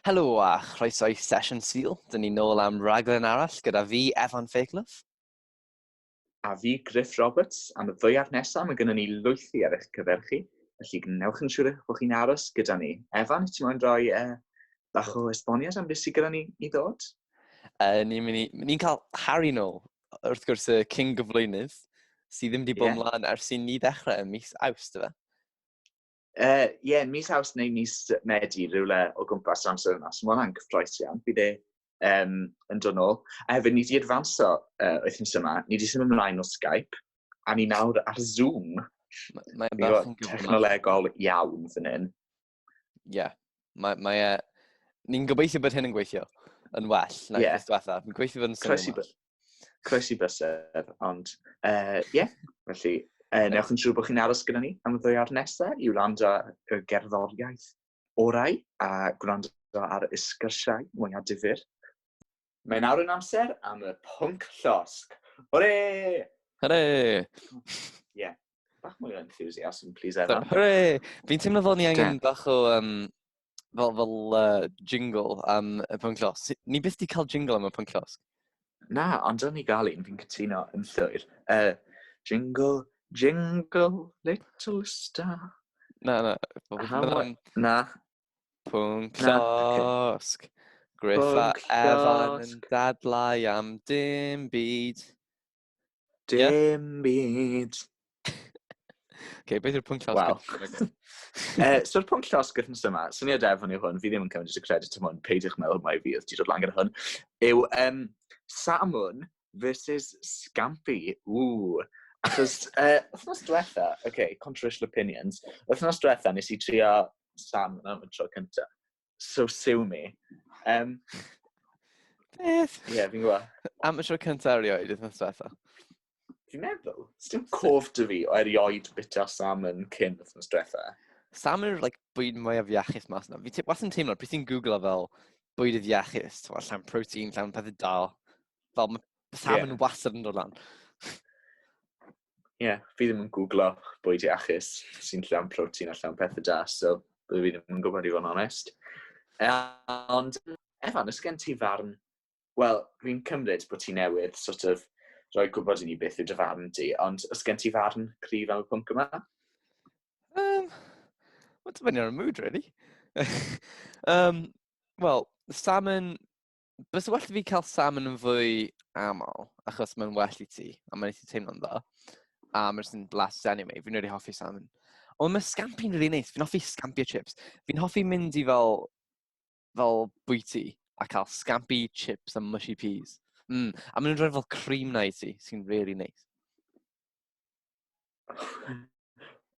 Helo a chroeso i Sesiwn Sul. Dyn ni nôl am raglen arall gyda fi, Evan Fakelough. A fi, Griff Roberts. Am y ddwyawr nesaf, mae gennym ni lwythi ar eich cyfer chi, felly gwnewch yn siŵr eich bod chi'n aros gyda ni. Evan, wyt ti'n moyn rhoi uh, bach o esboniad am beth sydd gyda ni i ddod? Uh, Ni'n ni, ni cael Harry nôl, wrth gwrs y King gyflwynydd, sydd ddim wedi bod yeah. mlaen ers i ni ddechrau ym mis awst, efe? Uh, yeah, mis haws neu mis Medi, rhywle o gwmpas yr amser yna. So mae hwnna'n gyffroes iawn. Bydd e um, yn dod nôl. A hefyd, ni wedi adfanso uh, wythnos yma. Ni wedi symud ymlaen o Skype. A ni nawr ar Zoom. Mae'n bach yn gyfnod. Technolegol iawn fan hyn. Ie. Yeah. Mae, mae e... Ni'n gobeithio bod hyn yn gweithio yn well na yeah. diwethaf. Mi'n gweithio fod yn symud ymlaen. Croesi bysedd, ond ie, uh, yeah, felly uh, newch yn siŵr bod chi'n aros gyda ni am y ddwyawr nesaf i wrando y gerddoriaeth orau a gwrando ar y sgyrsiau mwyaf difyr. Mae'n awr yn amser am y pwnc llosg. Hore! Hore! Ie. Yeah. bach mwy o enthusiasm, please, Evan. Hooray! Fi'n teimlo fel ni angen bach o, um, fel, fel uh, jingle am y pwnc los. Ni byth di cael jingle am y pwnc los. Na, ond o'n ni gael un, fi'n cytuno yn llwyr. Uh, jingle, jingle, little star. Na, na. How, na. Pwnc losg. Okay. Griffa Evan yn dadlau am dim byd. Dim byd. okay, beth yw'r pwnc llosg? Wow. uh, So'r pwnc llosg wrth yma, syniad efo ni hwn, fi ddim yn cymryd y credit am hwn, peidiwch meddwl mai fi oedd ti dod lan gyda hwn, yw um, Samun versus Scampy. Ww. Achos, uh, wythnos diwetha, oce, okay, controversial opinions, wythnos diwetha nes i trio Sam yn y tro cyntaf. so sue me. Um, Beth? Ie, yeah, fi'n gwybod. Am y tro cyntaf erioed, ydych chi'n diwethaf? Fi'n meddwl, sdim cof dy fi o erioed bita salmon cyn wythnos diwetha. Salmon yw'r like, bwyd mwyaf iachus mas yna. Fi was yn teimlo, pryd ti'n googlo fel bwydydd iachus, ti'n llawn protein, llawn pethau dal, fel mae salmon yeah. wastad yn dod lan. ie, yeah, fi ddim yn googlo bwyd iachus sy'n llawn protein a llawn pethau da, so byddwn fi ddim yn gwybod i fod yn onest. E, ond, Efan, ys gen ti farn... Wel, fi'n cymryd bod ti newydd sort of rhoi gwybod i ni beth yw dy farn di, ond ys gen ti farn cryf am y pwnc yma? Um, Mae'n dibynnu ar y mood, really. um, Wel, salmon bys well i fi cael salmon yn fwy aml, achos mae'n well i ti, a mae'n eithaf teimlo'n dda. A mae'n sy'n blas anyway, fi'n rhaid hoffi salmon. Ond mae scampi'n rili really neis, fi'n hoffi scampi a chips. Fi'n hoffi mynd i fel, fel bwyty a cael scampi, chips a mushy peas. Mm. A maen nhw'n rhoi fel cream na i ti, sy'n really neis.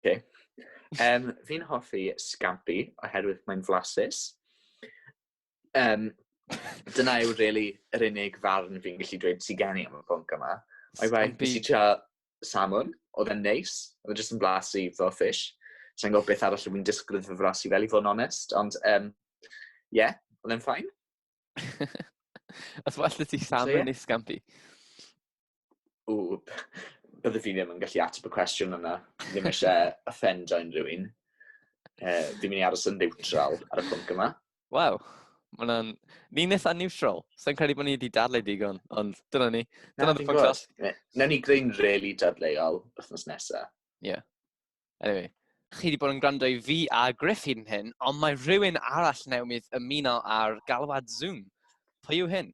okay. Um, fi'n hoffi scampi oherwydd mae'n flasus. Um, dyna yw really yr unig farn fi'n gallu dweud sy'n gen i am y pwnc yma. O'i bai, nes i tra salmon, oedd e'n neis, oedd e'n just yn blas i fel fish. Sa'n gwybod beth arall fi'n disgwyl iddo fras i fel i fod yn onest, ond um, yeah, oedd e'n ffain. Os well ti salmon so, yeah. neu scampi? Ww, bydde fi ddim yn gallu ateb y cwestiwn yna. Ddim eisiau offendio unrhyw un. Uh, fi'n mynd i aros yn neutral ar y pwnc yma. Waw, mae'n Ni'n eitha neutral. Sa'n credu bod ni wedi dadle digon, ond dyna ni. Dyna Na, podcast. Newn ni greu'n really dadleuol wythnos nesaf. Ie. Yeah. Anyway, chi wedi bod yn gwrando i fi a Griff hyn hyn, ond mae rhywun arall newydd ymuno ar galwad Zoom. Pwy yw hyn?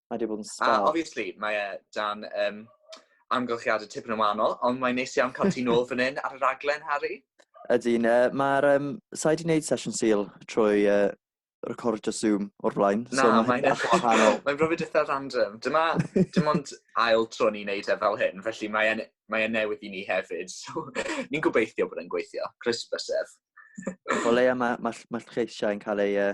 Mae wedi bod yn spa. A obviously, mae e dan um, amgylchiadau tipyn yn wahanol, ond mae'n neis iawn cael ti nôl fan hyn ar y raglen, Harry. Ydyn, uh, mae'r... Um, Sa'i di wneud sesiwn syl trwy uh, recordio Zoom o'r blaen. Na, so mae'n eithaf wahanol. mae'n brofi dithaf random. Dyma, dim ond ail tro ni'n neud e fel hyn, felly mae'n mae e newydd i ni hefyd. So, ni'n gobeithio bod e'n gweithio. Croeso bysedd. o leia, mae ma, ma lleisiau yn cael ei uh,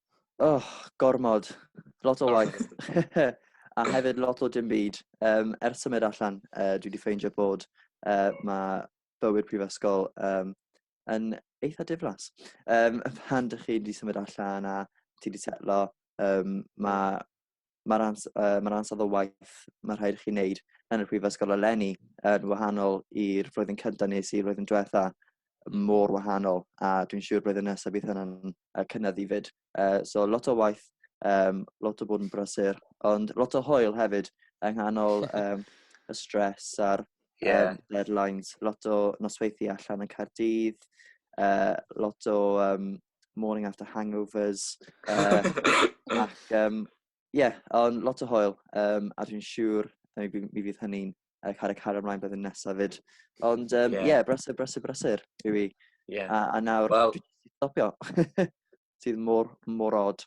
Oh, gormod. Lot o oh. waith. a hefyd lot o dim byd. Um, er symud allan, uh, dwi wedi ffeindio bod uh, mae bywyd prifysgol um, yn eitha diflas. Um, pan dych chi wedi symud allan a ti wedi setlo, um, mae mae'r ans, uh, ma ansawdd o waith mae rhaid i chi wneud yn y Prifysgol eleni yn wahanol i'r flwyddyn cyntaf nes i flwyddyn diwetha mor wahanol a dwi'n siŵr blwyddyn nesaf bydd hynny'n uh, cynnydd i fyd. Uh, so lot o waith, um, lot o bod yn brysur, ond lot o hwyl hefyd yng nghanol um, y stres a'r yeah. um, deadlines, lot o nosweithi allan yn Caerdydd, uh, lot o um, morning after hangovers. Uh, ac, um, yeah, ond lot o hoel. Um, a dwi'n siŵr mi, mi fydd hynny'n uh, cael ei cario ymlaen bydd yn nesaf fyd. Ond, um, yeah. yeah, brysur, brysur, brysur yw i. Yeah. A, a nawr, well, dwi'n stopio. Sydd mor, mor odd.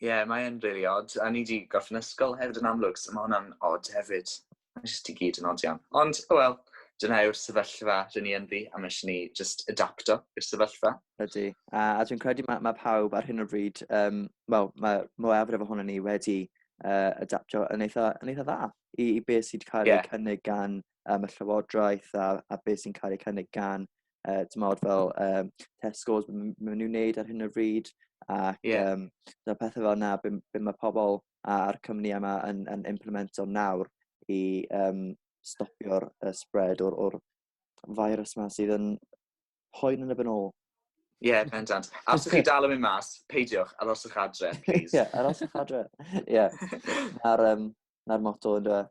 Ie yeah, mae e'n really odd. A ni wedi gorffen ysgol hefyd yn amlwg, so mae hwnna'n odd hefyd. Mae jyst i gyd yn odd iawn. Ond, o oh wel, dyna yw'r sefyllfa rydyn ni ynddi, a mae eisiau ni just adapto i'r sefyllfa. Ydy. A, a dwi'n credu mae, mae pawb ar hyn o bryd, um, wel, mae mwyafrif ohono ni wedi uh, adaptio yn eitha, yn eitha dda i, i beth sydd wedi cael yeah. ei cynnig gan um, y llywodraeth a, a beth sy'n cael ei cynnig gan uh, tymod fel um, Tesco's maen nhw'n wneud ar hyn o bryd ac yeah. um, dyna pethau fel yna be, be mae pobl a'r cymni yma yn, yn implemento nawr i um, stopio'r uh, spread o'r, or virus yma sydd yn poen yn y byn ôl. Ie, yeah, pendant. A os ydych chi dal yn mynd mas, peidiwch, aroswch adre, please. Ie, yeah, aroswch adre. Ie. Yeah. Na'r, um, na moto yn dweud.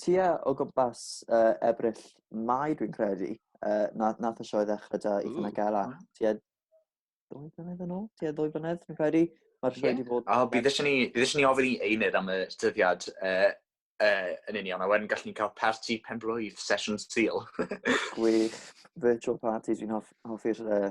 Tua o gwmpas uh, ebryll mai dwi'n credu, uh, na, nath y sioe ddechrau da i fyna gael at. Tua ddwy blynedd yn ôl, tua ddwy blynedd dwi'n credu. Mae'r sioe wedi yeah. bod... Oh, bydd eisiau ni, eisiau ni ofyn i Einydd am y dyddiad uh, uh, yn union, a wedyn gallwn ni cael parti penblwydd, sesiwn syl. Gwych, virtual parties, fi'n hoffi'r uh,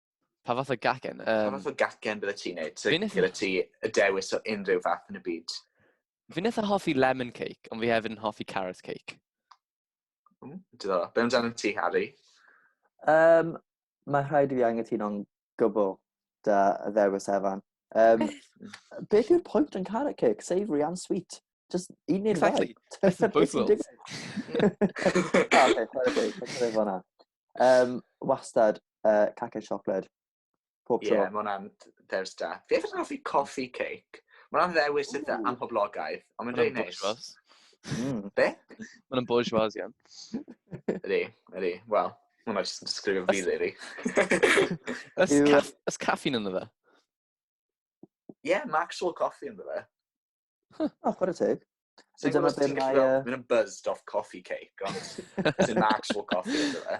Pa fath o gacen? Um, pa fath o gacen bydde ti'n neud? So, Fi'n eitha... ti y dewis o unrhyw fath yn y byd. Fi'n eitha hoffi lemon cake, ond fi hefyd yn hoffi carrot cake. Mm, Diddorol. Be amdano ti, Harry? Um, mae rhaid i fi angytuno'n gwbl da y ddewis Evan. Um, beth yw'r pwynt yn carrot cake? Savoury and sweet. Just un neu'r exactly. ddau. Exactly. Both worlds. Ah, okay, chwarae teg. Chwarae teg Um, wastad, uh, cacau siocled. Pob tro. Ie, yeah, mae'n there's that. Fi efo'n hoffi coffee cake. Mae'n ddewis eitha amhoblogaeth, ond mae'n dweud neis. Mm. Be? Mae'n bourgeois iawn. Ydy, ydy. Wel, mae'n just yn sgrifio fi, really. Ys caffeine ynddo fe? Ie, yeah, Maxwell Coffee ynddo fe. Huh. Oh, chwarae teg. So Dwi'n gwybod ti'n gallu fel, mynd yn buzzed off coffee cake, ond it's an actual coffee, ynddo fe.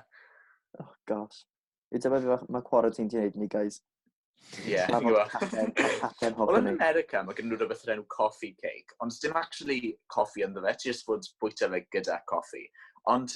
Oh, gosh. Dwi'n dyma fi, mae cwarae ti'n gwneud ni, guys. Ie, yeah, ti'n gwybod. Wel, yn America, mae gen nhw rhywbeth o'r enw coffee cake, ond dim actually coffee ynddo fe, ti just fod bwyta fe gyda coffee. Ond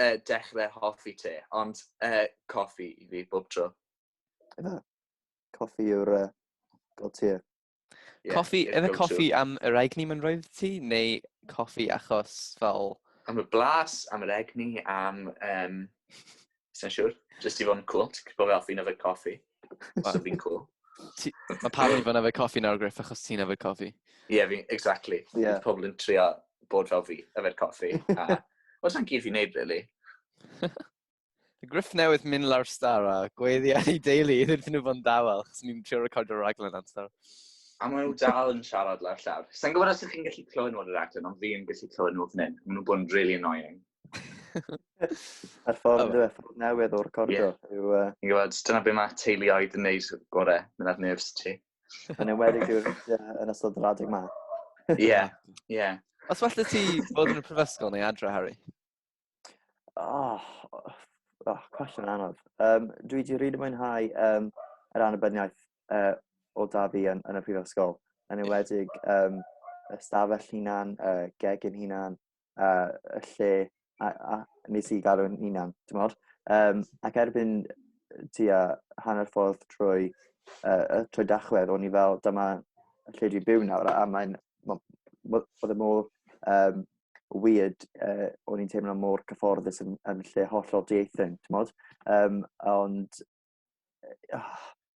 uh, dechrau hoffi te, ond uh, coffi i fi bob tro. Yna, coffi yw'r uh, god tir. Yeah, coffi, yna coffi am yr egni mae'n rhaid ti, neu coffi achos fel... Am y blas, am yr egni, am... Um, Sa'n siŵr, jyst i fod yn cool, ti'n gwybod fel fi'n yfed coffi. Mae'n fi'n cool. Mae pawb yn fan efe coffi nawr, Griff, achos ti'n efe coffi. Ie, yeah, exactly. Yeah. Pobl yn trio bod fel fi, efe coffi. Wel, sa'n gyd fi'n neud, really. Griff newydd mynd lawr star a gweddi ar ei deulu iddyn nhw fod yn dawel, chos ni'n trio recordio raglen am star. A maen nhw dal yn siarad lawr llawr. Sa'n gwybod os ydych chi'n gallu clywed nhw ar y raglen, ond fi'n gallu clywed nhw fan hyn. Maen nhw'n bod yn really annoying. Yr ffordd oh. ffordd newydd o'r cordo. Yeah. Yw, uh... Ti'n gwybod, dyna beth mae teuluoedd yn neud gore, mynd ar nerfs ti. Yn ewedig yw'r yn ystod yr adeg ma. Ie, ie. Os falle ti bod yn y prifysgol neu adre, Harry? Oh, oh cwestiwn anodd. Um, dwi wedi rhaid y mwynhau um, yr annibyniaeth uh, o da fi yn, yn y prifysgol. Yn ewedig um, ystafell hunan, uh, gegin hunan, uh, y lle a, a nes i gael o'n unan, ti'n modd? Um, ac erbyn tua hanner ffordd trwy, uh, trwy dachwedd, o'n i fel, dyma lle dwi'n byw nawr, a mae'n, oedd y mor um, weird, uh, o'n i'n teimlo mor cyfforddus yn, yn lle hollol dieithyn, ti'n modd? Um, ond, oh,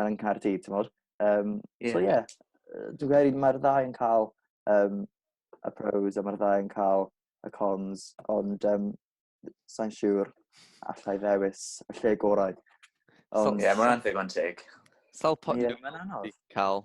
yn Nghaerdydd, ti'n modd. Um, yeah. So ie, yeah, dwi'n credu mae'r ddau yn cael um, y pros a mae'r ddau yn cael y cons, ond um, sa'n siŵr allai ddewis y lle gorau. Ond... Ie, yeah, mae'n anfeg o'n teg. Sawl pwynt yeah. mae'n anodd? Cael.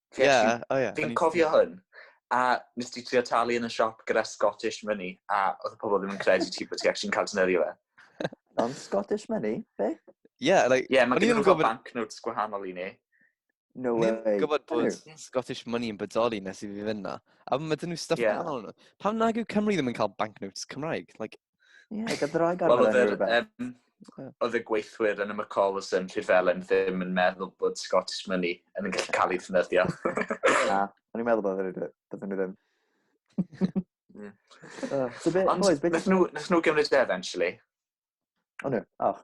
Fi yeah, actually, oh yeah. Fi'n cofio hwn. A nes ti trio talu yn y siop gyda Scottish money, a oedd y pobl ddim yn credu ti bod ti actually'n cael dynyddio fe. Non Scottish money? Be? Yeah, like... Yeah, mae gen i rhywbeth banknotes gwahanol i ni. No way. Ni'n gwybod bod Scottish money yn bodoli nes i fi fynd na. A mae dyn nhw stuff yeah. nhw. Pam nag yw Cymru ddim yn cael banknotes Cymraeg? Like, Yeah. Like, oedd roi gorfod well, oedd yr, um, oedd y gweithwyr yn y McCalls yn Rhyfelen ddim yn meddwl bod Scottish Money yn yn gallu cael ei ffynyddio. Na, o'n i'n meddwl bod nhw ddim. Ond nes nhw gymryd e eventually. O nhw, och.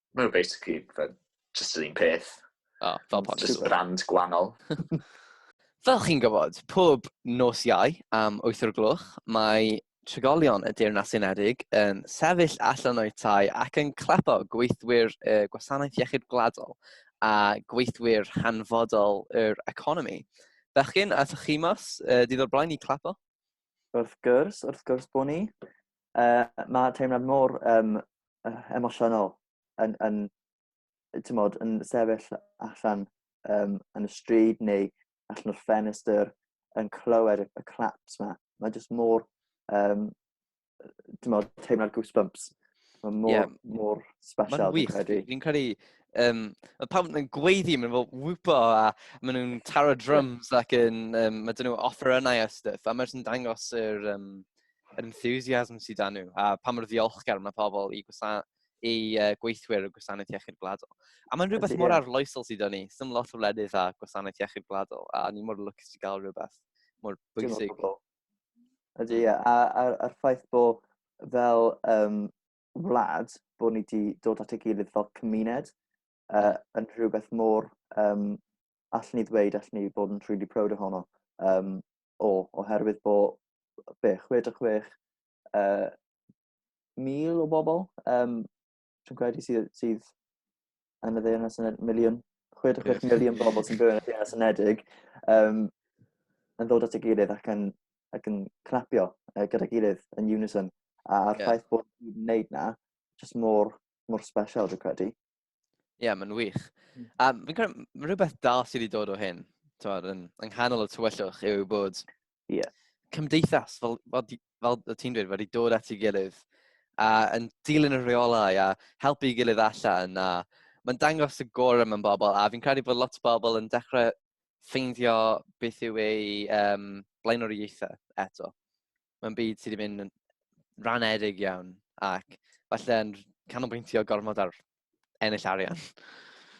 Mae nhw basically fel just yr un peth. O, fel posh. Just brand gwahanol. Fel chi'n gwybod, pob nos iau am 8 o'r gloch, mae trigolion y Deyrnas Unedig yn sefyll allan o'u tai ac yn clepo gweithwyr y Gwasanaeth Iechyd Gwladol a gweithwyr hanfodol yr economi. Bechgyn, a chi mas, uh, dydd o'r blaen i clepo? Wrth gwrs, wrth gwrs bod ni. uh, mae teimlad mor um, emosiynol yn, yn, tymod, yn sefyll allan um, yn y stryd neu allan o'r ffenestr yn clywed y claps yma. Mae jyst mor, um, tymod, teimlad goosebumps. Mae mor, yeah. mor special. Mae'n wych. Fi'n credu, um, mae pawb yn gweiddi, maen nhw'n wwpo a maen nhw'n taro drums ac yn, um, maen nhw'n offer yna a stuff, a maen nhw'n dangos yr, um, yr enthusiasm sydd dan nhw, a pa mor ddiolchgar mae pobl i, gwasana, i uh, gweithwyr y gwasanaeth iechyd gwladol. A mae'n rhywbeth mor arloesol sydd o'n ni. Sym lot o wledydd a gwasanaeth iechyd gwladol, a ni mor lwcus i gael rhywbeth mor bwysig. Ydy, ie. A'r ffaith bod fel um, wlad, bod ni wedi dod at ei gilydd fel cymuned, uh, yn rhywbeth mor, um, allan ni ddweud, allan ni bod yn really proud ohono, um, o, oherwydd bod be, 66 uh, mil o bobl, um, dwi'n credu sydd, sydd yn y ddeyrnas yn miliwn, 66 yes. miliwn bobl sy'n byw yn y ddeyrnas unedig, um, yn ddod at y gilydd ac yn, ac yn clapio uh, gyda gilydd yn unison. A'r yeah. ffaith bod ni'n gwneud na, jyst mor mor special, dwi'n credu. Ie, yeah, mae'n wych. Hmm. A fi'n credu, mae rhywbeth da sydd wedi dod o hyn, tywed, yn, yng nghanol y tywyllwch yw bod yeah. cymdeithas, fel, fel, fel y ti'n dweud, wedi dod at ei gilydd a yn dilyn y rheolau a helpu ei gilydd allan a mae'n dangos y gorau mewn bobl a fi'n credu bod lot o bobl yn dechrau ffeindio beth yw ei um, blaenoriaethau eto. mae'n byd sydd wedi mynd yn ranedig iawn ac falle yn canolbwyntio gormod ar ennill arian.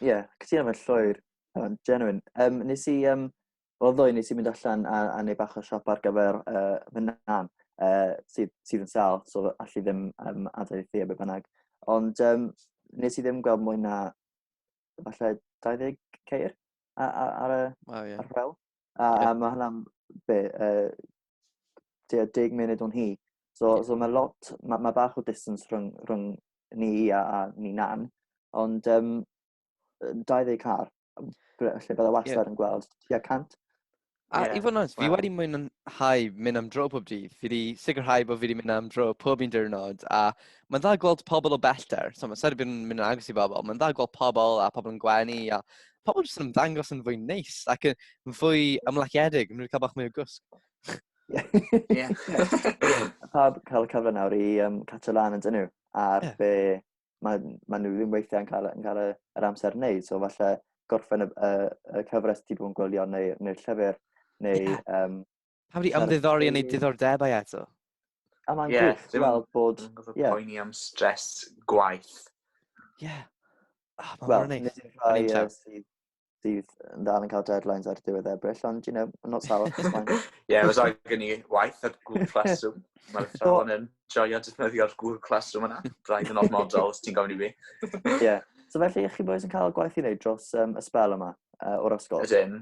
Ie, yeah, cytuno mewn llwyr. Um, genuine. Um, nes i, um, fel ddwy, nes i mynd allan a, a neu bach o siop ar gyfer uh, fy nan, uh, sydd, sydd yn sal, so allu ddim um, adael i thi a beth bynnag. Ond um, nes i ddim gweld mwy na, falle, 20 ceir ar, ar, ar, y, wow, yeah. ar fel. A, a mae hwnna'n be, uh, deg munud o'n hi. So, so mae lot, mae ma bach o distance rhwng, rhwng ni a, a ni nan, ond um, 20 car, lle byddai wastad yeah. yn gweld, tua 100. A yeah. i fod yn oes, fi wow. wedi mwynhau mynd am dro pob dydd. Fi wedi sicrhau bod fi wedi mynd am dro pob un diwrnod. A mae'n dda gweld pobl o bellter. So, mae'n sari bod yn mynd yn agos i bobl. Mae'n dda gweld pobl a pobl yn gwenu a pobl jyst yn ymddangos yn fwy neis ac yn fwy ymlaciedig, yn mynd i cael bach mwy o gwsg. Ie. Pawb cael y cyfle nawr i um, catch lan yn dyn nhw, ar yeah. be mae, mae nhw ddim weithiau yn cael, yn cael yr amser yn neud, so falle gorffen y, y, y cyfres ti bod yn gwylio neu'r neu llyfr neu yeah. um, Pam wedi ymddiddori yn ei diddordebau eto? A mae'n yeah, gwybod, ti'n meddwl bod... Ie. Yeah. Poeni am stres gwaith. Ie. Yeah. Oh, Wel, nid yw'r rhai sydd sydd yn dal yn cael deadlines ar diwedd Ebrill, ond, you know, I'm not sour. yeah, was I gen i waith ar Google Classroom. Mae'r ffôn yn joio defnyddio'r Google Classroom yna. Braidd yn ormodol, os ti'n gofyn i fi. yeah. So felly, chi boys yn cael gwaith i wneud dros um, y spel yma, uh, o'r ysgol? Ydyn.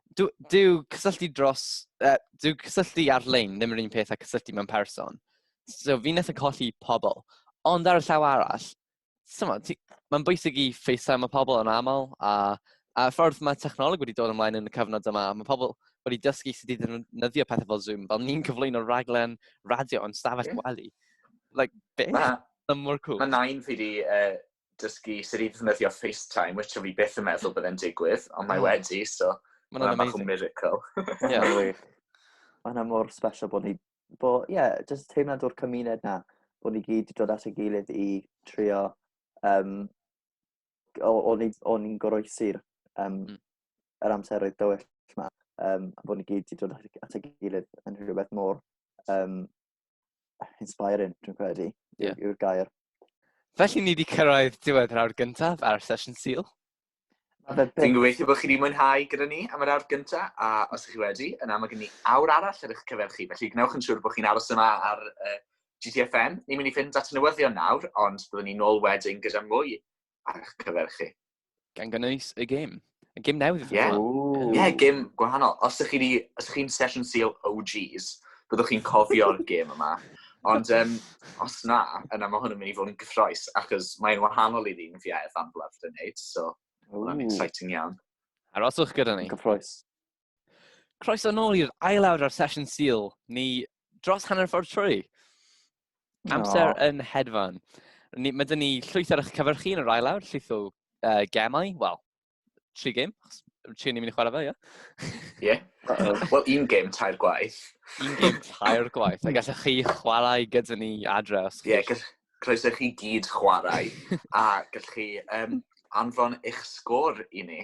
Dyw, dyw cysylltu dros... Uh, dyw cysylltu ar-lein ddim yr un peth a cysylltu mewn person. So fi'n nes yn colli pobl. Ond ar y llaw arall, mae'n bwysig i ffeisau mae pobl yn aml, a, a ffordd mae technoleg wedi dod ymlaen yn y cyfnod yma, mae pobl wedi dysgu sut i ddefnyddio pethau fel Zoom, fel ni'n cyflwyno raglen radio yn stafell yeah. gwely. Like, beth? Mae mor cool. Mae nain fi wedi uh, dysgu sut i ddefnyddio FaceTime, which o fi beth yn meddwl byddai'n digwydd, ond mae wedi, so mae'n yna bach o miracle. Ie, yeah, wir. Mae yna mor special bod ni, bo, ie, yeah, jyst teimlad o'r cymuned na, bod ni gyd wedi dod at ei gilydd i trio, um, o'n i'n goroesi'r um, mm. yr amseroedd dywyll yma, um, a bod ni gyd wedi dod at ei gilydd yn rhywbeth mor um, inspiring, dwi'n credu, yeah. yw'r gair. Felly ni wedi cyrraedd diwedd yr awr gyntaf ar sesiwn syl. Dwi'n gobeithio bod chi wedi mwynhau gyda ni am yr awr gyntaf, a os ydych chi wedi, yna mae gen ni awr arall ar eich cyfer chi, felly gwnewch yn siŵr bod chi'n aros yma ar uh, GTFN. Ni'n mynd i fynd at newyddion nawr, ond byddwn ni'n ôl wedyn gyda mwy ar eich cyfer chi. Gan gynnwys y gym. Y gym newydd. Ie, yeah. yeah, gym gwahanol. Os ydych chi'n chi session seal OGs, byddwch chi'n cofio'r gym yma. Ond um, os na, yna mae hwn yn mynd i fod yn gyffroes, achos mae'n wahanol i'r un fi a Evan Bluff yn neud, so mae'n exciting iawn. Aroswch gyda ni. Gyffroes. Croeso nôl i'r ail awr ar sesiwn syl, ni dros hanner ffordd trwy. Amser oh. yn hedfan. Ni, mae dyn ni llwyth ar eich cyfyrchu yn yr ail awr, llwyth o uh, gemau, wel, tri gem, tri ni'n mynd i chwarae fe, ie? Ie. Wel, un gem tair gwaith. un gem tair gwaith, a gallech chi chwarae gyda ni adre os chi... Ie, yeah, croeso chi gyd chwarae, a gallech chi um, anfon eich sgôr i ni.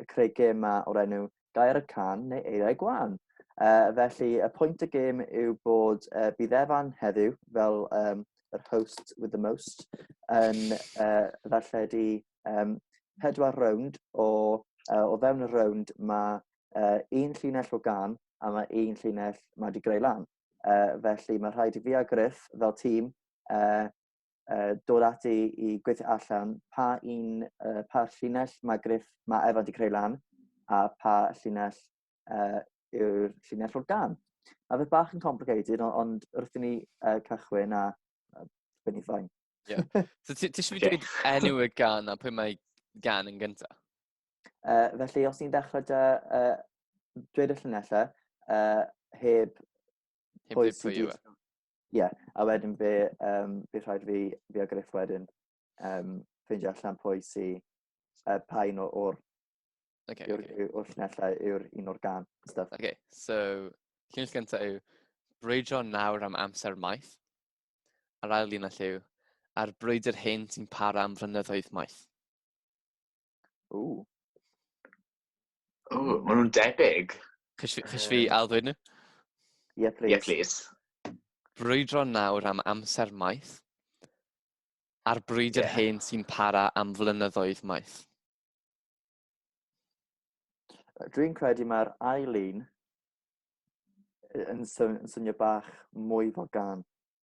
yn creu gêm ma o'r enw Gair y Can neu Eiriau Gwan. Uh, felly, y pwynt y gêm yw bod uh, bydd Evan heddiw, fel um, yr host with the most, yn uh, ddarlledu um, pedwar rownd o, uh, o fewn y rownd mae uh, un llinell o gan a mae un llinell mae wedi greu lan. Uh, felly mae rhaid i fi a Griff fel tîm uh, uh, dod ati i gweithio allan pa un, uh, pa llinell mae Griff, mae Efa wedi creu lan, a pa llinell uh, yw'r llinell o'r gan. Mae fe bach yn complicated, ond, ond wrth i ni uh, cychwyn a uh, byn i ffain. Yeah. So ti eisiau fi dweud enw y gan a pwy mae gan yn gyntaf? Uh, felly, os ni'n dechrau da, uh, dweud y llunellau, uh, heb... Heb dweud pwy yw e. Ie, a wedyn fe, um, fe rhaid fi, fi a Griff wedyn, um, ffeindio allan pwy sy, uh, pa un o'r okay, yw'r okay. yw, llunellau yw'r un o'r gan. Stuff. Okay, so llunell gyntaf yw brwydro nawr am amser maith. A'r ail llunell yw a'r brwydr hyn sy'n para am flynyddoedd maith. Ww. Ww, maen nhw'n debyg. Chys fi, chys fi um, ail ddweud nhw? Ie, yeah, please. Yeah, please. Brwydro nawr am amser maith, a'r brwydr yeah. hen sy'n para am flynyddoedd maith. Dwi'n credu mae'r ail un yn, swn, yn swnio bach mwy fel gan.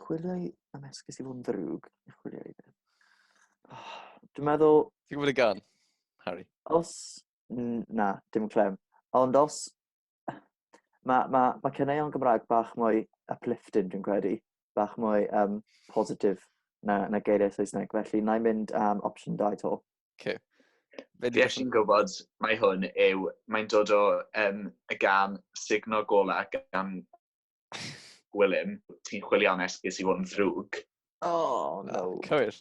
Chwilio i... am esgus i fod yn ddrwg. Chwilio i beth. Oh, dwi'n meddwl... Ti'n gwybod y gan, Harry? Os... Na, dim clem. Ond os... Mae ma, ma cyneuon Gymraeg bach mwy uplifting, dwi'n credu. Bach mwy um, positif na, na geiriau Saesneg. Felly, na i mynd am um, opsiwn 2 to. Okay. Fe Fi eisiau'n gwybod, mae hwn yw, mae'n dod o um, y gan signo gola gan Gwilym, ti'n chwilio am esgus i fod yn ddrwg. Oh, no. Oh, cywir.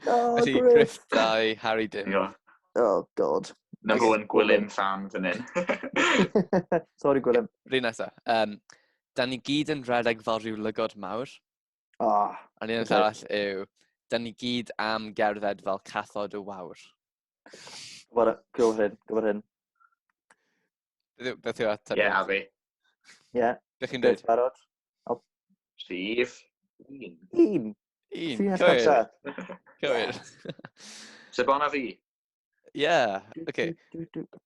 Oh, Felly, Griff dau, Harry dim. Ie. Oh, god. Na fo yn Gwilym fan fan hyn. Sorry, Gwilym. Rhi nesa. Um, da ni gyd yn rhedeg fel rhyw lygod mawr. Oh, A ni'n okay. arall yw, da ni gyd am gerdded fel cathod y wawr. Gwybod hyn, gwybod hyn. Beth yw ateb? Ie, a fi. Ie. Beth chi'n dweud? Barod? Sif. Un. Un. Un. Cywir. Cywir. Se bon a fi. Ie, oce.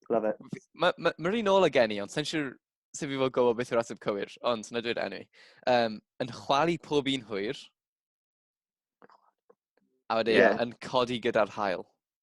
Love it. Mae'r un ôl o gen i, ond sa'n siŵr sef i fod gofod beth yw'r ateb cywir, ond na dweud enw i. Um, yn chwalu pob un hwyr, a wedyn yeah. yn codi gyda'r hael.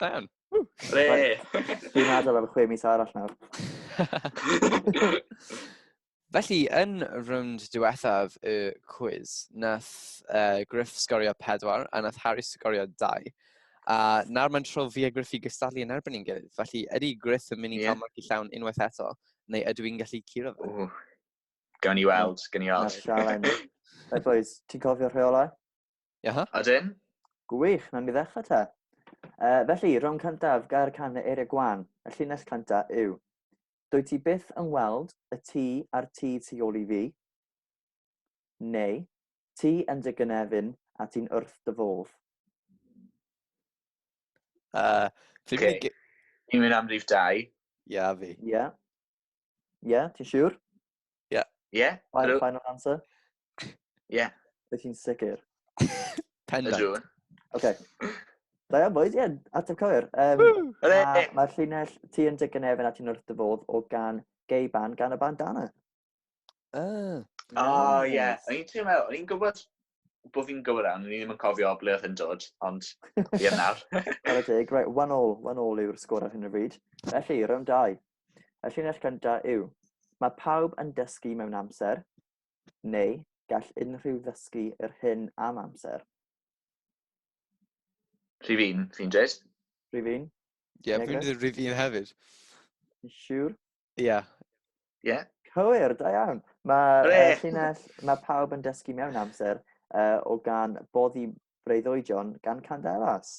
Da iawn. Re! Dwi'n adael am chwe mis arall nawr. Felly, yn rownd diwethaf y cwiz, nath uh, Griff sgorio pedwar a nath Harry sgorio dau. A nawr mae'n tro fi a Griff i gystadlu yn erbyn i'n gilydd. Felly, ydy Griff yn mynd i yeah. cael marci llawn unwaith eto, neu ydw i'n gallu curo fe? Gawn ni weld, gawn ni weld. Right, boys, ti'n cofio rheolau? Iaha. Ydyn. Gwych, na mi ddechrau te. Uh, felly, rhwng cyntaf gair can y eiriau gwan, y llinell cynta yw. Dwy ti byth yn weld y ti a'r ti tu ôl i fi? Neu, ti yn dy gynefin a ti'n wrth dy fodd? Uh, okay. Ni'n mynd am rif dau. Ia, fi. Ia. Ie, yeah, ti'n siŵr? Ie. Yeah. Ie. Yeah, final, final answer? Ie. Yeah. Wyt ti'n sicr? Pendant. Ydw. Oce. Da iawn, boys, ie, yeah, ateb cywir. Um, Mae'r ma llinell ti yn dig yn efn a ti'n wrth dyfodd o gan gei ban gan y bandana. Uh, oh, ie. Yeah. O'n i'n teimlo, o'n i'n gwybod bod fi'n gywir am, o'n i'n ddim yn cofio ble oedd yn dod, ond ie nawr. Ar y dig, right, one all, one all yw'r sgwr ar hyn o bryd. Felly, round 2. Y llinell gyntaf yw, mae pawb yn dysgu mewn amser, neu gall unrhyw ddysgu yr hyn am amser. Rhyf un, fi'n dweud. Rhyf un? Ie, yeah, fi'n dweud rhyf un hefyd. Siwr? Ie. Yeah. Ie. Yeah. Cywir, da iawn. Mae uh, llinell, mae pawb yn dysgu mewn amser uh, o gan boddi breuddwydion gan Candelas.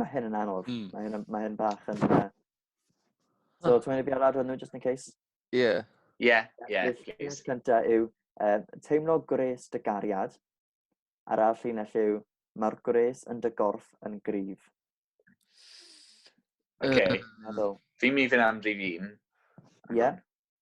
Mae hyn yn anodd. Mm. Mae hyn, mae hyn bach yn... Uh... So, ti'n mynd i fi ar adrodd nhw, just in case? Ie. Yeah. Ie, yeah, ie. Yeah, llinell cynta yw um, teimlo gwres dy gariad. A'r all llinell yw mae'r gwres yn dy gorff yn grif. Oce. Okay. Fi'n mynd i fynd am rif un. Ie.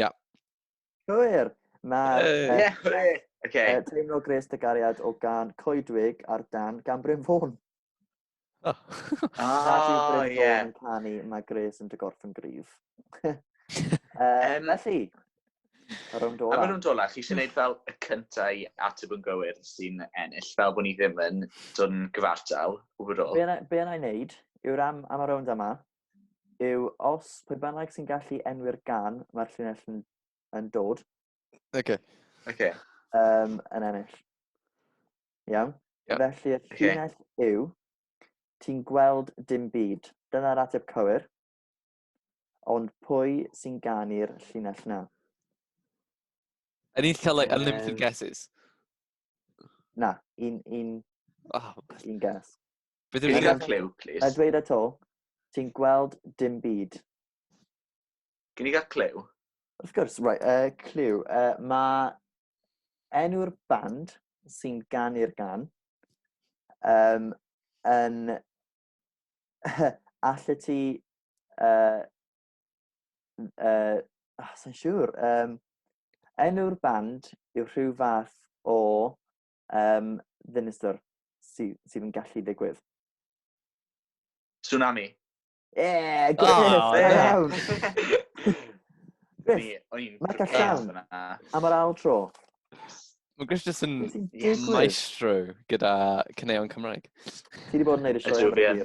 Ia. Cywir! Mae'r Yy, Ie, hwre! Oce. yy, teimlo gres dy gariad o gan Coedwig ar dan gan Bryn Fôn. O. Nad yw O, Bryn ie. Fôn yn canu, mae gres yn dy gorff yn gryf. Yy, Yym, Felly, y rownd A maen ola. nhw'n dola, chi eisiau gwneud fel y cyntaf i ateb yn gywir sy'n ennill, fel bod ni ddim yn dod yn gyfartal o gwbl. Be yna- be yna i wneud yw'r am am y rownd yma, yw os pwy bynnag sy'n gallu enwi'r gan mae'r llinell yn, yn dod. Oce. Oce. Um, yn ennill. Iawn? Yep. Felly y llinell okay. yw, ti'n gweld dim byd. Dyna'r ateb cywir. Ond pwy sy'n ganu'r llinell na? Any, cael like, unlimited um, guesses? Na, un, un, oh. un guess. Beth yw'r Gael clyw, please. Mae dweud eto, ti'n gweld dim byd. Can i gael clyw? Wrth gwrs, right, uh, clyw. Uh, mae enw'r band sy'n ganu'r gan um, yn allu ti uh, uh, oh, sy'n siŵr um, enw'r band yw rhyw fath o um, ddinistr sydd, sydd yn gallu digwydd. Tsunami. Yeah, good oh, yeah. Mae'n gallan. Am yr ail tro. Mae Griff jyst yn maestro gyda cyneuon Cymraeg. Ti wedi bod yn neud y sioe o'r hir.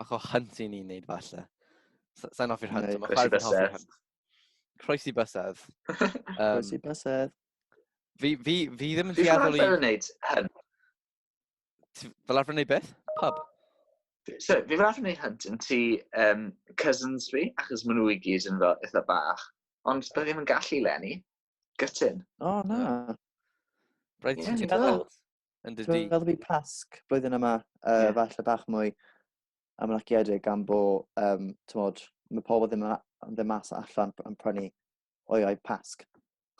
Bach o hunt i ni'n neud falle. Sa'n hoffi'r hunt, ond mae chwaer fi'n hoffi'r hunt. Croesi bysedd. Croesi bysedd. Fi, fi, fi ddim yn dueddol i... Fi fel arfer yn neud hyn. Fel arfer yn neud beth? Pub? So, fi fel arfer yn neud hyn yn ti um, cousins fi, achos maen nhw i gyd yn fel eitha bach. Ond dwi ddim yn gallu lenni. Gytun. O, oh, na. Rhaid ti'n meddwl. Yn dy di. Fel fi pasg blwyddyn yma, uh, yeah. falle bach mwy amlaciedig am bo, um, tymod, mae pobl ddim yn ddim mas allan yn prynu oiau pasg.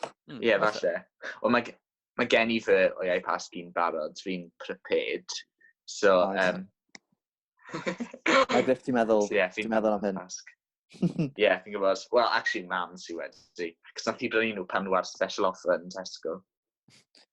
Hmm, ie, mm, falle. O, mae, mae gen i fy oiau pasg i'n barod, fi'n prepared. So, oh, um... mae Griff, ti'n meddwl, so, yeah, ti'n meddwl am hyn? Pasg. Ie, yeah, fi'n gwybod. Wel, actually, mam sy'n wedi. Cos nath i brynu nhw pan nhw ar special offer yn Tesco.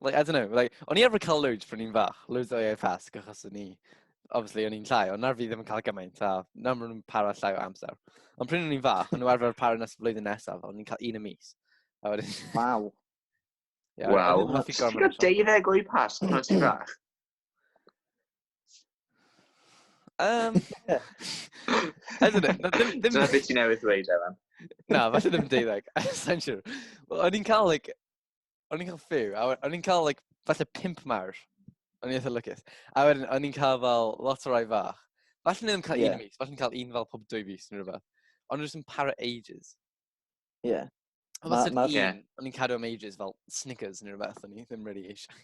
like, I don't know, like, o'n i arfer cael loads pryn i'n fach, loads o AFS, achos o'n i, obviously, o'n i'n llai, ond nawr fi ddim yn cael gymaint, a nawr maen nhw'n para llai o amser. Ond pryn o'n i'n fach, o'n nhw arfer para nes y flwyddyn nesaf, o'n i'n cael un y mis. A wedyn... Waw. Yeah, Waw. Ti'n cael deuddeg o'i pas pan o'n ti'n fach? Um, Ydyn nhw. Dyna beth ti'n newydd ddweud, Evan. Na, falle ddim deuddeg. Sa'n siwr. O'n i'n cael, like, o'n i'n cael few, a o'n i'n cael, like, falle pimp mawr. O'n i'n eitha lycus. A wedyn, o'n i'n cael fel lot o rai fach. Falle ni'n cael yeah. un mis, falle ni'n cael un fel pob dwy fus neu rhywbeth. Ond rwy'n para ages. Ie. Yeah. Ond os ma, yeah. o'n i'n cadw am ages fel Snickers neu rhywbeth, o'n i ddim really eisiau.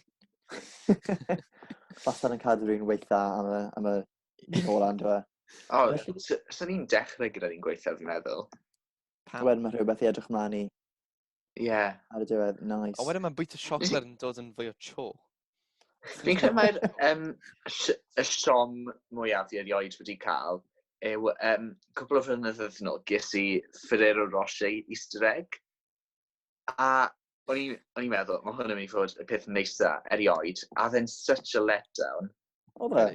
Falle ni'n cadw rhywun weitha am y, am y ôl andra. O, so ni'n dechrau gyda ni'n gweithio, fi'n meddwl. Wedyn mae rhywbeth i edrych mlaen i. Ie. Ar y diwedd, nice. Ond wedyn mae'n bwyta siocled yn dod yn fwy o cho. Fi'n credu mae'r um, y siom mwyaf i erioed wedi cael yw um, cwbl o flynyddoedd yn ôl ges i Ferrero Rocher Easter egg. A o'n i'n meddwl, mae hwn yn mynd i fod y peth neisa erioed. A then such a letdown. Oedd e?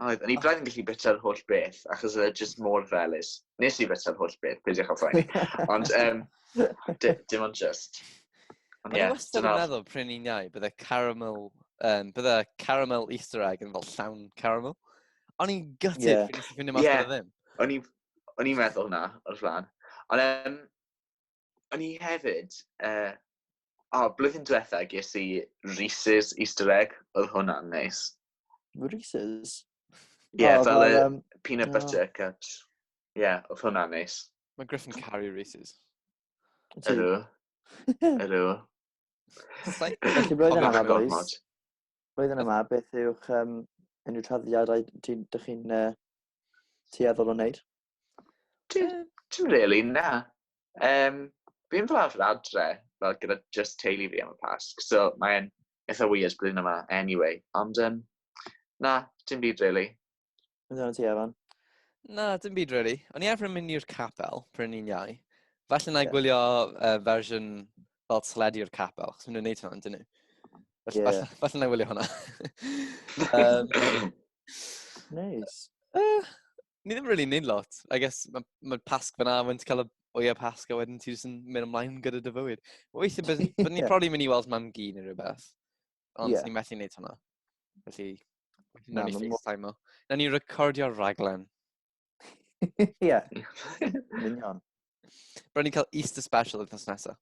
Oedd, o'n i braidd yn gallu bita'r holl beth, achos oedd e just mor felus. Nes i bita'r holl beth, peidiwch â phoeni. Ond, um, dim ond just. Ond ie, yeah, wastad yn meddwl, pryn i'n iau, bydde caramel, um, bydde caramel Easter egg yn fel llawn caramel. O'n i'n gutted, yeah. nes i ffindio mas yeah. ddim. O'n i'n meddwl hwnna, o'r flan. Ond, um, o'n i hefyd, uh, o, oh, blwyddyn diwetha ges i Reese's Easter egg, oedd hwnna'n neis. Reese's? Ie, yeah, oh, fel y um, peanut butter oh. cups. Ie, yeah, oedd hwnna'n neis. Mae Griff yn caru Reese's. Ydw. Ydw. Felly blwyddyn yma, boys. Blwyddyn yma, beth yw'ch um, unrhyw traddiadau dych chi'n uh, tueddol o wneud? Dim, dim really, na. Um, fi'n fel arfer adre, fel gyda just teulu fi am y Pasg, so mae'n eitha weird blwyddyn yma anyway. Ond um, na, dim byd really. Yn dweud ti, Evan? Na, dim byd really. O'n i arfer yn mynd i'r capel pryn ni'n iau. Falle na yeah. gwylio uh, fersiwn fel teledu o'r capel, chos nhw'n gwneud hwnna, dyn nhw. Falle, yeah. falle, falle na wylio hwnna. um, nice. Uh, ni ddim really neud lot. I guess mae ma pasg fyna, mae'n cael y oia pasg a wedyn ti jyst yn mynd ymlaen gyda dy fywyd. Weithio, bydd yeah. ni'n probably mynd i weld mam gi neu rhywbeth. Ond yeah. ni'n methu neud hwnna. Felly, na ni FaceTime o. Na ni recordio'r raglen. Ie. Union. Byddwn ni'n cael Easter special oedd nos nesaf.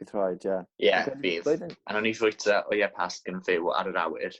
Bydd rhaid, ie. Ie, bydd. A nhw'n ni fwyta o ie pasg yn fyw ar yr awyr.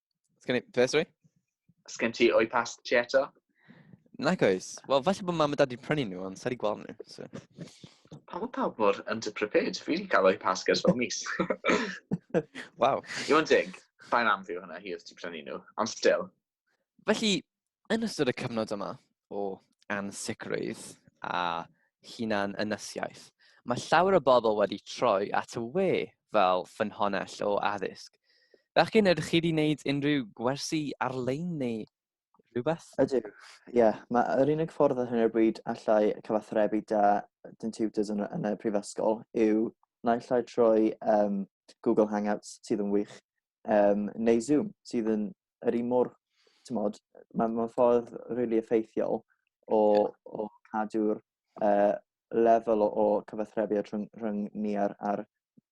Sgen i... Beth, sori? Sgen ti o'i past ti eto? Nac oes. Wel, falle bod mam a dad i'n prynu nhw, ond sa'i di gweld nhw. So. Pam bod pawb mor underprepared? Fi wedi cael o'i past gers fel mis. Waw. Iwan Dig, bain am fi hwnna, hi oedd ti prynu nhw. Ond still. Felly, Yn ystod y cyfnod yma o ansicrwydd a hunan ynysiaeth, mae llawer o bobl wedi troi at y we fel ffynhonnell o addysg. Bechgyn, ydych chi wedi gwneud unrhyw gwersi ar-lein neu rhywbeth? Ydw, ie. Yeah. Mae'r unig ffordd ar hyn o'r bryd allai cyfathrebu da dyn tutors yn, yn y prifysgol yw naill ai trwy um, Google Hangouts sydd yn wych, um, neu Zoom, sydd yn yr un mor, ti'n modd, mae'n ma ffordd rili really effeithiol o, o cadw'r uh, lefel o, o cyfathrebiad rhwng, rhwng ni a'r, ar,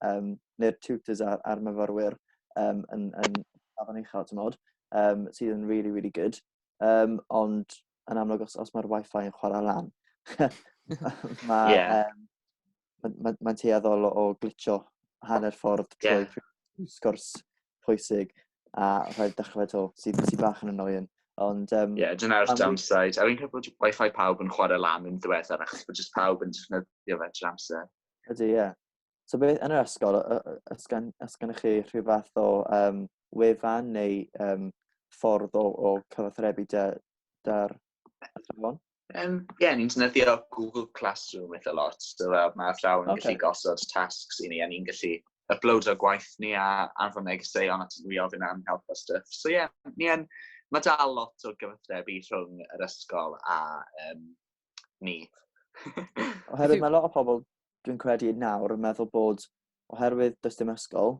um, neu'r tutors a'r, ar myfyrwyr um, yn, yn afon uchel, ti'n modd, um, sydd yn really, really good. Um, ond yn amlwg, os, os mae'r wifi yn chwarae lan, mae... yeah. um, mae'n ma, ma tueddol o glitio hanner ffordd trwy yeah. sgwrs pwysig a rhaid dechrau to, sy'n sy bach yn annoying. Ond... Um, yeah, dyna'r downside. A fi'n cael bod wifi pawb yn chwarae lan yn ddiweddar, achos bod jyst pawb yn defnyddio fe trwy amser. Ydy, ie. Yeah. So beth yn yr ysgol, ysgan, ysgan chi rhyw fath o um, wefan neu um, ffordd o, o cyfathrebu da'r athrawon? Um, yeah, ni'n defnyddio Google Classroom eitha lot. So, uh, mae athrawon yn okay. gallu gosod tasks i ni, a ni'n gallu upload o gwaith ni a anfon negeseuon at nhw i ofyn am help a stuff. So, yeah, ni en, mae dal lot o gyfathrebu rhwng yr ysgol a um, ni. oherwydd mae lot o pobl, dwi'n credu nawr, yn meddwl bod oherwydd does dim ysgol,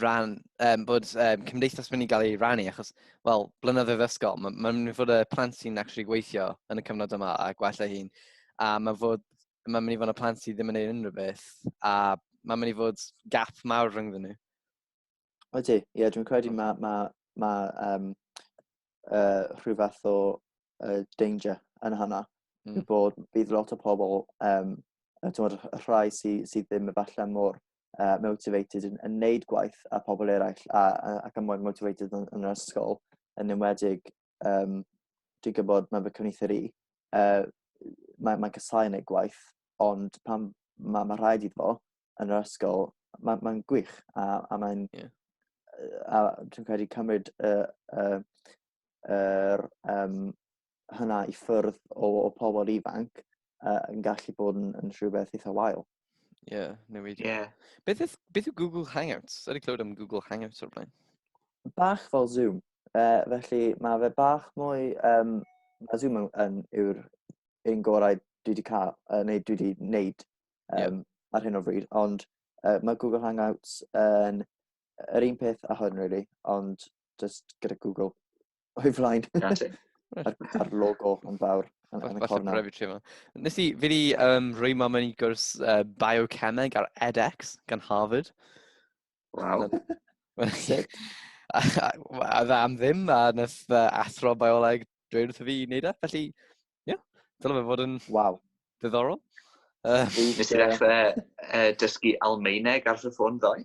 ran, um, bod um, cymdeithas mynd i gael ei rannu, achos, wel, blynyddoedd ysgol, mae'n ma mynd i fod y plant sy'n actually gweithio yn y cyfnod yma a gwella hi'n, a mae'n fod, mae'n mynd i fod y plant sydd ddim yn ei unrhyw beth, a mae'n mynd i fod gap mawr rhwng nhw. O ti, ie, yeah, dwi'n credu mae ma, ma, um, uh, rhyw fath o uh, danger yn hynna, mm. bod bydd lot o pobl, um, y rhai sydd sy ddim efallai mor uh, motivated yn, yn neud gwaith a pobl eraill a, a, ac yn mwy motivated yn, yn yr ysgol yn enwedig um, dwi'n gwybod mae fy cyfnither i uh, mae'n mae casau yn ei gwaith ond pan mae ma rhaid iddo fo yn yr ysgol mae'n ma gwych a, a mae'n yeah. a dwi'n credu cymryd y uh, uh, um, hynna i ffyrdd o, o pobl ifanc uh, yn gallu bod yn, yn rhywbeth eitha wael. Ie, yeah, newidio. Yeah. Beth, yw, beth yw Google Hangouts? Ydy clywed am Google Hangouts o'r blaen? Bach fel Zoom. Uh, felly mae fe bach mwy... Um, mae Zoom yn, yn yw'r un gorau dwi wedi cael, uh, neu dwi wedi wneud um, yeah. ar hyn o bryd, ond uh, mae Google Hangouts yn yr un peth a hwn, really, ond just gyda Google. O'i flaen. A'r logo yn fawr yn, yn y cornel. Falle tri yma. Nes i, fi di um, rhoi mam yn i gwrs uh, biocemeg ar edX gan Harvard. Wow. a dda am ddim, a nes uh, athro bioleg dweud wrth fi i wneud e, felly, ie, yeah, dyna fe fod yn wow. ddiddorol. Uh, Nes i ddechrau uh, dysgu Almeineg ar fy ffôn ddoe?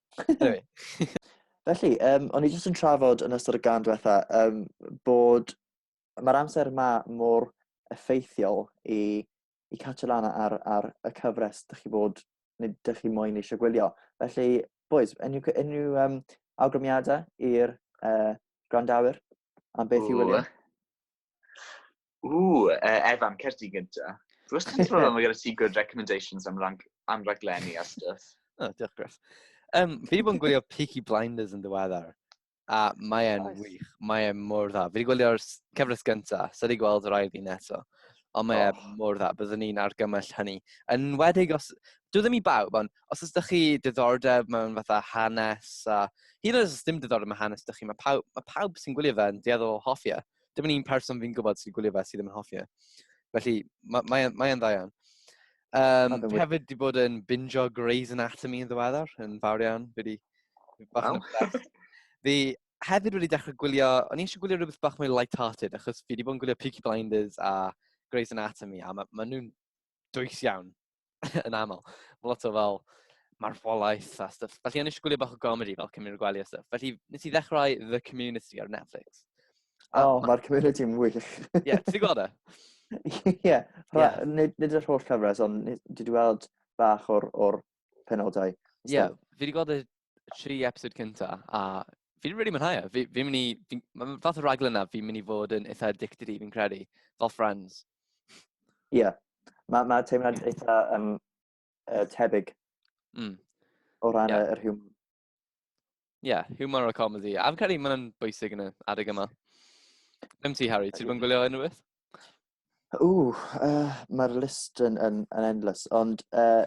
Anyway. Felly, um, o'n i jyst yn trafod yn ystod y gan diwetha um, bod mae'r amser yma mor effeithiol i, i catch lan ar, ar y cyfres dych chi bod, neu dych chi moyn eisiau gwylio. Felly, boys, unrhyw, unrhyw um, awgrymiadau i'r uh, gwrandawyr am beth i wylio? Ww, uh, Evan, cer ti gynta. Dwi wastad yn teimlo fel gyda ti good recommendations am, rang, am raglenni a stuff. oh, diolch Griff. Um, fi wedi bod yn gwylio Peaky Blinders yn ddiweddar. A mae e'n nice. wych. Mae e'n mor dda. Fi wedi gwylio'r cyfres gyntaf, so wedi gweld yr ail un eto. Ond mae oh. mor dda. Byddwn ni'n argymell hynny. Yn wedig os... Dwi ddim i bawb, ond os ydych chi diddordeb mewn fatha hanes a... Hyd yn oed os dim diddordeb mewn hanes ydych chi, mae pawb, mae pawb sy'n gwylio fe yn dieddol o hofio. E. Dim yn un person fi'n gwybod sy'n gwylio fe sydd ddim yn hoffi e. Felly, mae'n mae, mae e'n dda iawn. Um, fi hefyd wedi bod yn binjo Grey's Anatomy yn ddiweddar, yn fawr iawn. Fi wedi... Wow. fi hefyd wedi dechrau gwylio, o'n i eisiau gwylio rhywbeth bach mwy light-hearted, achos fi wedi bod yn gwylio Peaky Blinders a Grey's Anatomy, a maen ma nhw'n dwys iawn, yn aml. Mae lot o fel marwolaeth a stuff. Felly o'n i eisiau gwylio bach o gomedi fel Cymru'r Gwely a stuff. Felly nes i ddechrau The Community ar Netflix. O, oh, mae'r Community yn wych. Ie, ti'n gweld e? Ie, nid, yr holl cyfres, ond dwi wedi weld bach o'r, or penodau. Ie, yeah, fi wedi gweld y tri episod cynta, a fi'n really mwynhau e. Fi, fi mynd i, fi, mae fath o raglen yna, fi'n mynd i fod yn eitha addicted i, fi'n credu, fel friends. Ie, yeah. mae ma teimlad eitha um, uh, tebyg mm. o ran yeah. yr hwm. Ie, yeah, humor a comedy. A fi'n credu mae'n bwysig yn y adeg yma. Dim ti, Harry, ti'n bod gwylio unrhyw beth? O, uh, mae'r list yn, yn, yn endless, ond uh,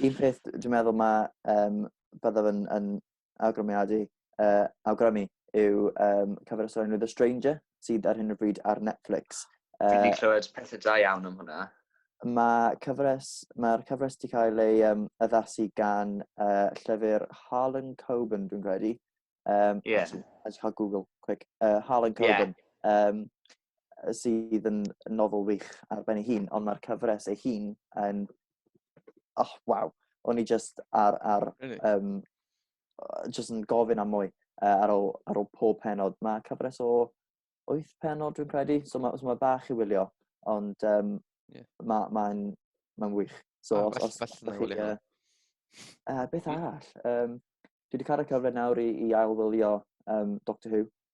un peth dwi'n meddwl mae um, byddaf yn, yn awgrymiadu, uh, awgrymu, yw um, cyfer y stori The Stranger, sydd ar hyn o bryd ar Netflix. Uh, Dwi wedi clywed pethau da iawn am hwnna. Mae cyfres, mae'r cyfres wedi cael ei um, addasu gan uh, llyfr Harlan Coben, dwi'n credu. Um, yeah. As cael Google, quick. Uh, Harlan Coben. Yeah. Um, sydd yn nofel wych ar ben ei hun, ond mae'r cyfres ei hun yn... Oh, waw. O'n i just ar, ar really? um, jyst yn gofyn am mwy uh, ar, ôl, ar ôl pob penod. Mae cyfres o wyth penod dwi'n credu, so mae, so mae bach i wylio, ond um, yeah. mae'n ma, ma, ma wych. So, ah, os, os, os, os, uh, uh, beth arall? Um, dwi wedi cael y cyfle nawr i, i ailwylio um, Doctor Who,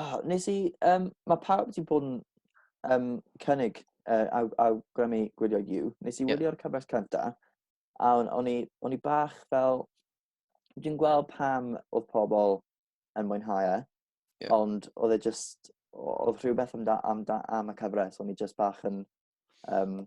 Oh, nes i, um, mae pawb wedi bod yn um, cynnig uh, aw, awgrymu gwylio You. Nes i yeah. wylio'r cyfres cynta, a o'n, on, i, on i bach fel... Dwi'n gweld pam oedd pobl yn mwynhau e, yeah. ond oedd e just... Oedd rhywbeth am, da, am, da, am y cyfres, o'n i just bach yn... Um,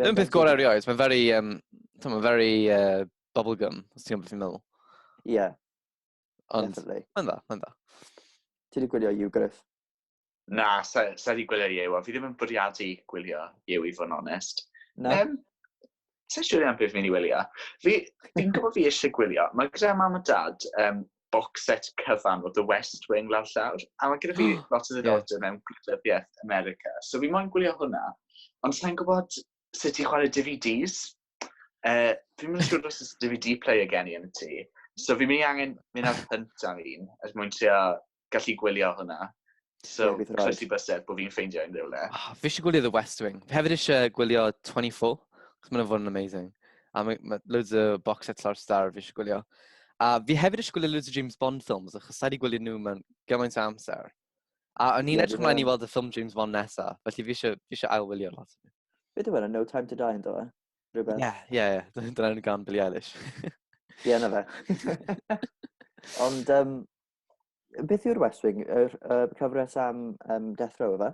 Ddim peth gorau rioed, mae'n very, um, mae'n very uh, bubblegum, os ti'n gwybod beth i'n meddwl. Ie. Yeah. Ond, mae'n dda, mae'n dda. Ti wedi gwylio You Griff? Na, sa, sa wedi gwylio Yew, a fi ddim yn bwriadu gwylio Yew i fod yn onest. Na. Um, Sa'n siŵr iawn beth fi'n ei wylio. Fi'n gwybod fi eisiau gwylio. Mae gyda mam a dad um, box set cyfan o The West Wing lawr llawr, a mae gyda fi oh, lot o ddiddordeb yeah. mewn gwleidyddiaeth America. So fi moyn gwylio hwnna, ond sa'n gwybod sut i chwarae DVDs. Uh, fi'n mynd i siŵr os oes DVD player gen i yn y tŷ. So fi'n mynd i angen mynd ar hynt am un, er mwyn trio gallu gwylio hwnna. So, yeah, croesi bysedd bod fi'n ffeindio unrhyw le. Oh, ah, fi eisiau gwylio The West Wing. Fi hefyd eisiau gwylio 24, cos mae'n fod yn amazing. A mae ma loads o box set lawr star fi eisiau gwylio. A fi hefyd eisiau gwylio loads o James Bond films, achos da di gwylio nhw mewn gymaint o amser. A o'n i'n yeah, edrych ymlaen i weld y ffilm James Bond nesa, felly fi eisiau, fi eisiau ailwylio lot. Beth yw No Time to Die yn dod? E? Rhywbeth? Ie, ie, ie. Dyna'n gan Billie Eilish. Ie, na fe. Ond, um, Beth yw'r West Wing? Yr uh, cyfres am um, Death Row, efe?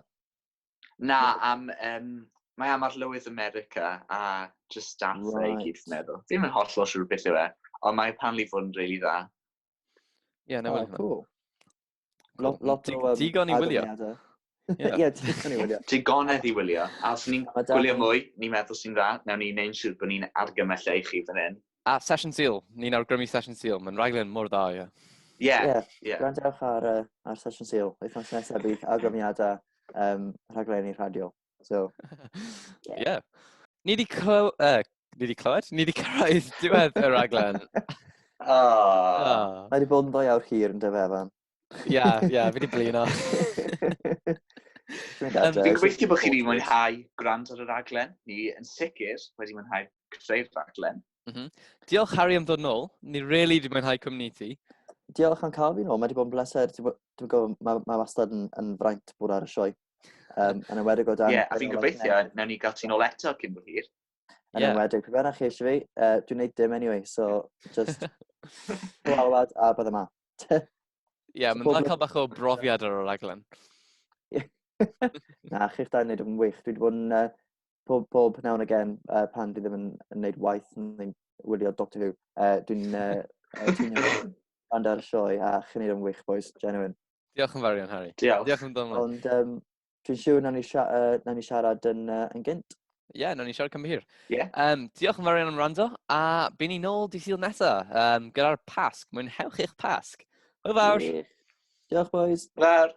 Na, am... Um, mae am arlywydd America a just staff right. ei gyd, fi'n meddwl. Ddim yn holl o siwr beth yw e, ond mae pan li fod yn really dda. Ie, yeah, na oh, cool. Lot, lot o... Um, digon i wylio. Ie, ti'n ei wylio. Digonedd i wylio. A os ni'n gwylio mwy, ni'n meddwl sy'n dda, newn ni neu'n siŵr bod ni'n argymell e i chi fan hyn. A Sesiwn Sul, ni'n awgrymu Sesiwn Sul, mae'n rhaglen mor dda, ie. Ie, ie. Gwrandewch ar, uh, ar Sesiwn Sul, wythnos nesaf bydd awgrymiadau um, rhaglenni radio. So, ie. Yeah. yeah. Ni wedi clyw... Uh, ni wedi clywed? Ni wedi cyrraedd diwedd y rhaglen. oh. oh. Mae wedi bod yn ddwy awr hir yn dyfa, fan. Ia, ia, fi wedi blino. Fi'n gweithio bod chi wedi mwynhau gwrand ar y raglen. Ni yn sicr wedi mwynhau creu'r raglen. Mm -hmm. Diolch Harry am ddod nôl. Ni rili really wedi mwynhau cwmni ti. Diolch am cael fi nôl. Mae wedi bod yn bleser. Dwi'n gwybod, mae, mae wastad yn, yn fraint bod ar y sioe. Um, yn ymwedig o dan... Ie, yeah, a fi'n gobeithio, newn ni gael ti'n ôl eto cyn bod hir. Yn yeah. ymwedig, pe bennach chi eisiau fi, uh, dwi'n neud dim anyway, so just gwalwad a bydd yma. Ie, yeah, mae'n dda cael bach o brofiad ar y raglen. Na, chi'ch da wneud yn wych. Dwi wedi bod yn uh, pob, pob now and again uh, pan dwi ddim yn, yn gwneud waith yn wylio Doctor Who. Uh, dwi'n uh, band ar y sioe a chi'n neud yn wych, boys, genuine. Diolch yn fawr iawn, Harry. Diolch. Diolch yn dod Ond, um, Dwi'n siŵr na ni, sia, uh, na ni siarad yn, uh, yn gynt. Ie, yeah, na ni siarad cymhur. Yeah. Um, diolch yn fawr iawn am rando, a byn ni nôl di sydd nesa um, gyda'r Pasg. Mwynhewch eich Pasg. Hwyl fawr. Yeah. Diolch, boys. Fawr.